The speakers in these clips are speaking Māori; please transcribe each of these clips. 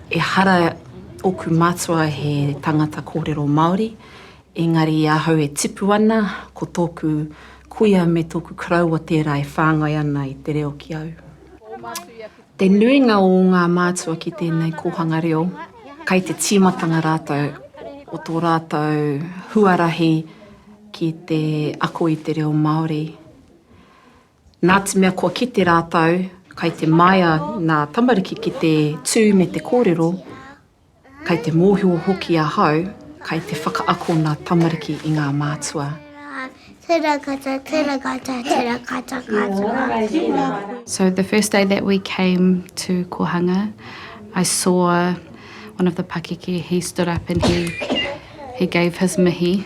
Ehara oku matua he tangata korero Maori, engari i ahau e tipu ana, ko toku kuia me toku karaua tera e whangai ana i te reo ki au. Te nuinga o nga matua ki tenei kohanga reo, kai te timatanga ratou o to ratou huarahi ki te ako i te reo Maori. Nā te mea kua kite rātou, kai te maea ngā tamariki ki te tū me te kōrero, kai te mōhio hoki ahau, kai te whakaako ngā tamariki i ngā mātua. So the first day that we came to Kohanga, I saw one of the pakeke, he stood up and he gave his mihi.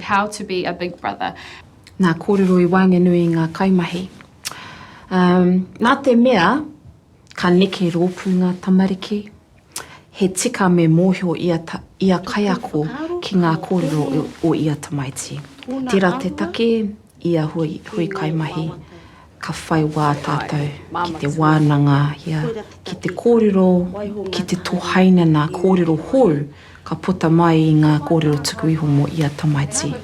How to be a big brother. Nā kōrero i waenganui i ngā kaimahi. Um, nā te mea, ka neke rōpū ngā tamariki, he tika me mōhio ia, ta, ia kaiako ki ngā kōrero o ia tamaiti. Tērā te take, I a hui, hui kaimahi, ka whai wā tātou ki te wānangahia, ki te kōrero, ki te tohaina nā kōrero hou ka puta mai i ngā kōrero tuku iho mō ia tamaiti.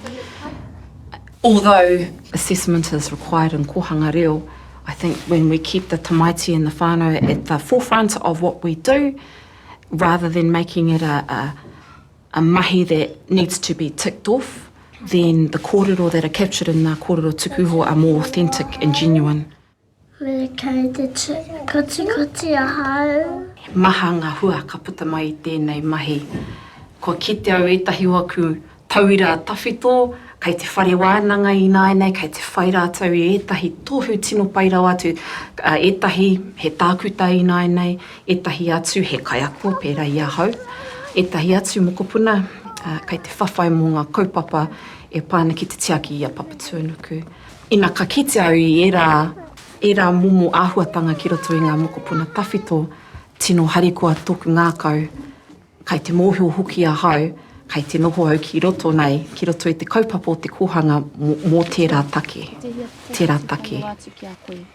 Although assessment is required in kōhanga reo, I think when we keep the tamaiti and the whānau at the forefront of what we do, rather than making it a, a a mahi that needs to be ticked off then the kōrero that are captured in ngā kōrero tuku iho are more authentic and genuine. Me kei te kotikoti ahau. He maha ngā hua ka puta mai i tēnei mahi. Kua kite au ētahi o aku tauira tawhito kei te whare wānanga ināianei kei te whai rātou i ētahi tohu tino pai rawa atu, ētahi he tākuta ināianei, ētahi atu he kaiako pērā i ahau, ētahi atu mokopuna kei te whawhai mō ngā kaupapa e pā ana ki te tiaki i a Papatūānuku. Ina ka kite au i ērā, ērā momo āhuatanga ki roto i ngā mokopuna tawhito, tino harikoa tōku ngākau, kei te mōhio hoki ahau, kei te noho au ki roto nei, ki roto i te kaupapa o te kōhanga mō tērā take, tērā take.